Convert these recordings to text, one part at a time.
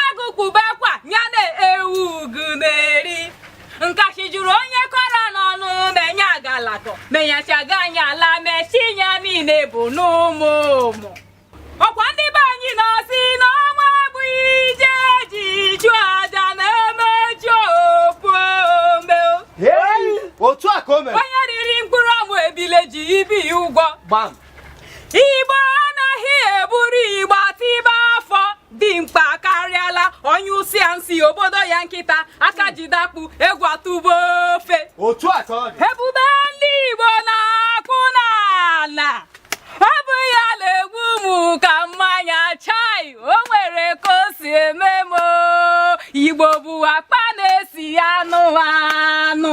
agụkpube akwa ya na-ewu ugu na-eri nkasị jụrụ onye kọrọ n'ọnụ menye agalakọ menyachaga anyị ala mechi ya niile bụ n'ụmụ ụmụ ọ kwa ndị be anyị na-asị na ọnwa bụ ije ji chụ aja na-emechi ofu ome otu a ka o mere onye riri mkpụrụ amụ ebile ji ibi ya ụgwọ gbam igbo anaghị eburu ịgba tibe afọ dimkpa akarịala onye usi a nsi obodo ya nkịta aka jide akpụ egwu atụba ofe otu a ka ọ dị ebube ndị igbo na-akụ n'ala ọ bụ ya na-egbu mụ ka mmanya chai o nwere ka o si eme m o. igbo bụ akpa na-esi anụ anụ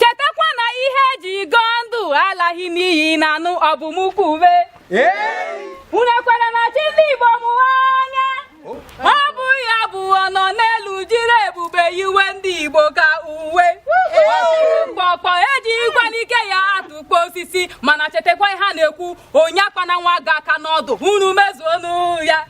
chetakwa na ihe eji go ndụ alaghị n'iyi na anụ ọ bụ mụ kwube unu ekwere na chi ndị Igbo bụ onye ọ bụ ya bụ ọnọ n'elu jiri ebube yiwe ndị Igbo ka uwe mgbọkpọ eji ịgwa n'ike ya atụkpo osisi mana chetakwa ihe a na-ekwu onye akpana nwa agụ aka n'ọdụ unu mezuonụ ya